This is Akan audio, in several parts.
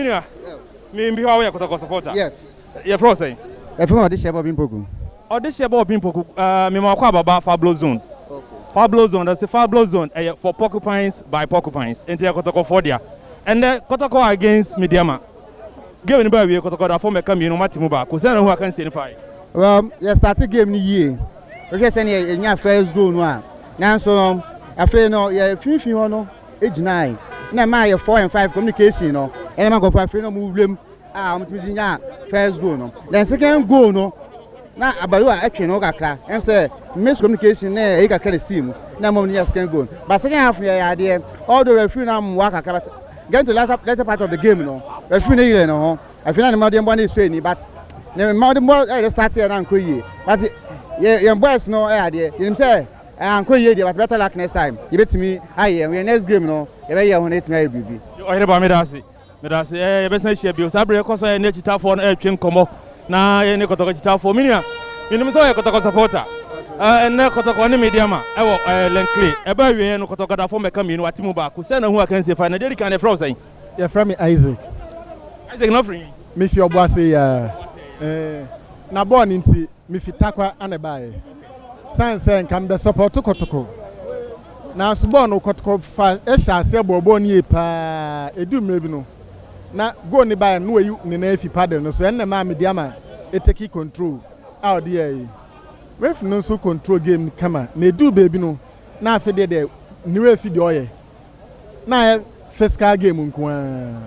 Me nua, me mbiwa woyɛ kɔtɔkɔ supporter. Yes. Yɛfrɛ wo sɛn? Yɛfrɛ me Ɔdehyɛ Bɔbi Mpoku. Ɔdehyɛ Bɔbi Mpoku, ɛɛ mema ɔkɔ ababa Fablo zone. Okay. Fablo zone, ɛsɛ Fablo zone ɛyɛ for porcupines by porcupines, enti ɛyɛ kɔtɔkɔfoɔ dea. Ɛnɛ kɔtɔkɔ against Medeama. Game no ba awie kɔtɔkɔdafoɔ mɛka mmienu wɔn ate mu baako. Sɛn na ho akansie no fae? Well, yɛ start game no yie. Wohwɛ sɛnea yɛnya first goal no a, nanso no afei no yɛ finfin hɔ no gyinae na ɛmaa yɛ four and five communication no ɛna ma nkɔfo afei na ɔmo wuram a ɔmo tumi gye nyaa first goal no then second goal no na abayo a ɛtwe no kakra ɛm sɛ miss communication na ɛyi kakra na sii mu na ɛma ɔmo nya second goal but second half yɛ yɛ adeɛ although referee na mmoa kakra but getting to latter latter part of the game no referee ne yere ne ho afei na ne mma ɔde mmoa ne sue ni but ne mma ɔde mmoa ɛyɛ start yɛ na nkɔ yie but yɛ yɛn boys no ɛyɛ adeɛ yɛnim sɛ Eh ankɔ yie deɛ but better luck next time yɛbɛtumi ayɛ yɛn ho yɛn next game no yɛbɛyɛ yɛn ho na yɛatumi ayɛ biribi. Ɔhene ba meda ase meda ase eh yɛbɛsan ahyia bio saa berɛ yɛkɔ so a yɛne akyitaafoɔ no ɛretwe nkɔmmɔ na yɛne kɔtɔkɔ akyitaafoɔ me nua menim sɛ ɔyɛ kɔtɔkɔ supporter eh, ɛnnɛ kɔtɔkɔ ne media ma ɛwɔ eh, lɛnkle ɛbɛ awieɛ no kɔtɔkɔ dafoɔ mɛka mmienu ate mu baako sɛ na hu akansie fa na deɛ ɛdi kan no ɛfrɛ wo sɛn Yɛfrɛ me Isaac. Isaac, na wofiri he? Mefi Ɔboase ya. Ee, na bɔɔl no nti, mefi Tarkwa na ɛbaeɛ. Sane sɛ nka mebɛsɔpɔɔto Kɔtɔkɔ. Nanso bɔɔl no, Kɔtɔkɔ fa hyɛɛ aseɛ bɔɔ bɔɔl no yie pa ara. Ɛduu mmerɛ bi no, na goal no baeɛ no, na wayi ne nan afi paddle no so. Ɛno na ɛmaa mede ama Eteki control a ɔde yɛɛ yi. Referee no nso control game no kama. Na ɛduu baabi no, na afei deɛ deɛ ne werɛ afi deɛ ɔreyɛ. na ayɛ physical game nko ara.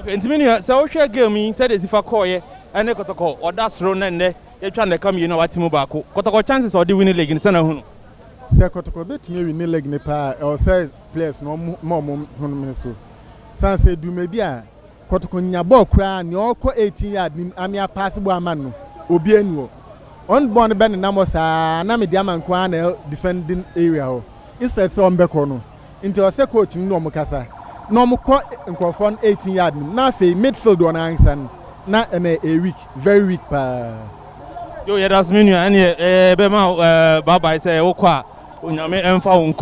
Okay, nti me nua, sɛ wohwɛ game yi sɛdeɛ ɛsi fa kɔɔeɛ ɛne Kɔtɔkɔ ɔda soro na nnɛ yɛtwa nnaka mmienu a wate mu baako, Kɔtɔkɔ chances a ɔde wini league no, sɛn na wohunu? Sɛ Kɔtɔkɔ bɛtumi awini league no paa a, ɛwɔ sɛ players no wɔma wɔn home so, sane sɛ dwumadi a. Kotoko nnya bɔɔl koraa nea ɔkɔ eighteen yard no mu amea paase bɔɔl ama no obiaa nni hɔ ɔn bɔɔl no bɛ nenam hɔ saa na me diama nko ara na ɛwɔ defending area hɔ instead sɛ ɔn bɛkɔ no nti ɔsɛ coach no ne ɔmo kasa na ɔmo kɔ nkorɔfoɔ no eighteen yard no mu na afei midfield ɔn ankasa no na ɛnɛ ɛyɛ weak very weak paa. Yoo yɛdase me nua ɛneɛ yɛbɛma wo bye bye sɛ wokɔ a onyame ɛnfa wo nkɔ.